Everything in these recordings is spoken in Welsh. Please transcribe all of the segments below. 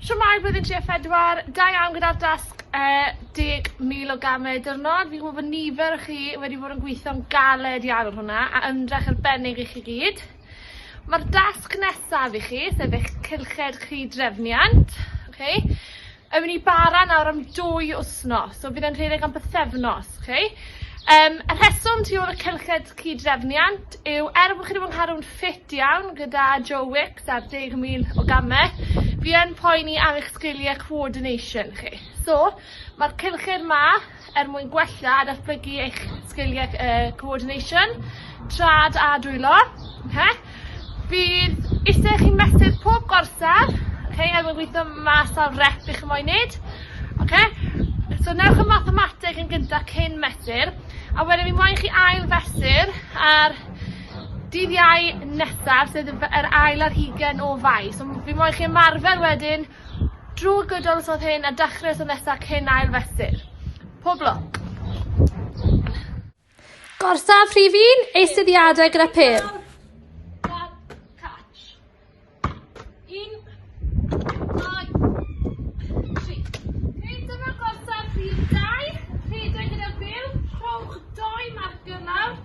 Siwmai blwyddyn 34, da iawn gyda'r dasg uh, 10,000 o gamau dyrnod. Fi'n gwybod bod nifer o chi wedi bod yn gweithio'n galed iawn ar hwnna a ymdrech arbennig i chi gyd. Mae'r dasg nesaf i chi, sef eich cylched chi drefniant. Okay. Ewn ni bara nawr am dwy wsnos, so bydd e'n rhedeg am bythefnos, chi. Um, y rheswm tu ôl y cylched cyd-drefniant yw er bod chi wedi bod yn cadw'n ffit iawn gyda Joe Wicks ar 10,000 o gamau, fi yn poeni am eich sgiliau coordination chi. So, mae'r cylched ma er mwyn gwella a datblygu eich sgiliau uh, coordination, trad a dwylo. Okay? Bydd eisiau chi mesur pob gorsaf, okay, er mwyn gweithio mas ar rep i chi moyn wneud. Okay? So newch y mathemateg yn gyntaf cyn mesur, a wedyn mi moyn chi ail fesur ar dydd iau nesaf, sef yr ail ar hugen o fai. So fi moyn chi ymarfer wedyn Drwg y dylysodd hyn a dachre y synesa cyn ail fesur. Pob lwc. Gorsaf rhif un, eisteddiadau gyda pêl.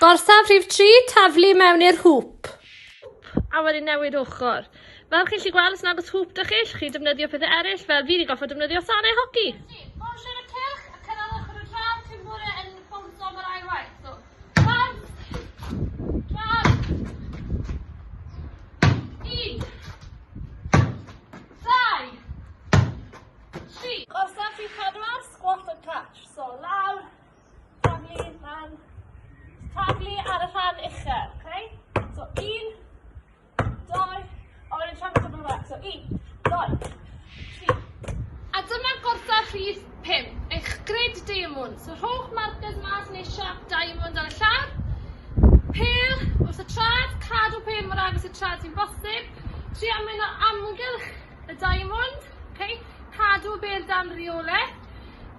Gorsaf rhif 3, taflu mewn i'r hŵp. A wedyn newid ochr. Fel chi'n gallu gweld, os nagos hŵp dych chi, chi defnyddio pethau eraill, fel fi wedi gorfod defnyddio sanau hoci. Polishiwr y cylch, a cynhaliwch yr wdraf cyn bod e yn bownsio am yr ail waith. So, rhan, rhan, un, dau, tri. Gorsaf rhif 4, squat and catch. So, lawr, Taflu lan. Taflu ar y rhan uchel, okay? So, un, doi, a wedyn siarad yn rhywle. So, un, doi, tri. A dyma gorda rhif 5, eich grid diamond. So, rhowch markers mas neu siap diamond ar y llawr. Pel wrth y trad, cadw pel mor agos y trad sy'n bosib. Tri amwyn o amgylch y diamond, okay? cadw y bel dan rheolau.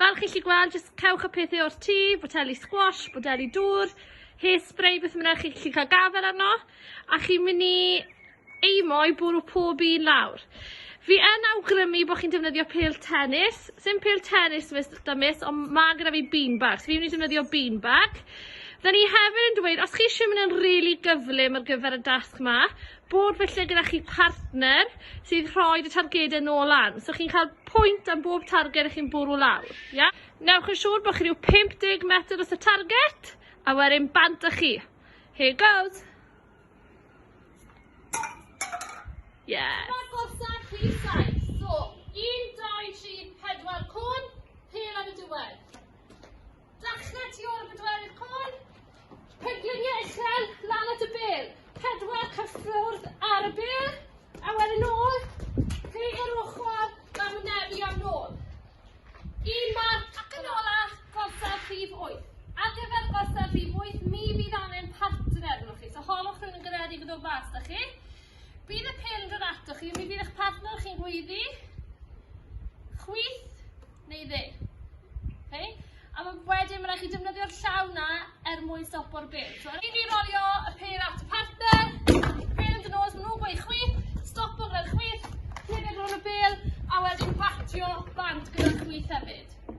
Fel chi chi gweld, jyst cewch y pethau o'r tŷ, boteli squash, boteli dŵr, hairspray, beth bynnag chi chi cael gafael arno, a chi'n mynd i eimo i bwrw pob un lawr. Fi yn awgrymu bod chi'n defnyddio pel tennis, sy'n pel tennis mis, da mis, ond mae gyda fi beanbag, so fi'n mynd i defnyddio beanbag. Da ni hefyd yn dweud, os chi eisiau mynd yn rili really gyflym ar gyfer y dasg ma, bod felly gyda chi partner sydd rhoi y targedau nôl lan. So chi'n cael pwynt am bob targed ych chi'n bwrw lawr. Yeah? Newch yn siŵr bod chi rhyw 50 metr os y target, a wedyn bant â chi. Here goes. Yeah. Mae'r gorsa rhif 7. So, 1, 2, 3, 4 cwn, pel ar y diwedd. Dachnau tu ôl y bedwerydd côr. Pengliniau uchel, lan at y bel. Pedwar cyffwrdd ar y bel. A wedyn ôl, peir ochr, a mynebu am nôl. Un marc ac yn ola, gorsaf rhif 8. Ar gyfer gorsaf rhif 8, mi fydd angen partner arnoch chi. So holwch rhywun yn garedig yn dod mas da chi. Bydd y pel yn dod atoch chi, mi fydd eich partner chi'n gweiddi. Chwith, neu ddim. Oce? A ma' wedyn ma' rai' chi defnyddio'r llaw 'na er mwyn stopo'r bêl. So rhaid i ni rolio y pêl at y partner, bêl yn dy nos, ma' nhw'n gweud chwith, stopo gyda'r chwith, cerdded rownd y bêl, a wedyn batio bant gyda'r chwith hefyd.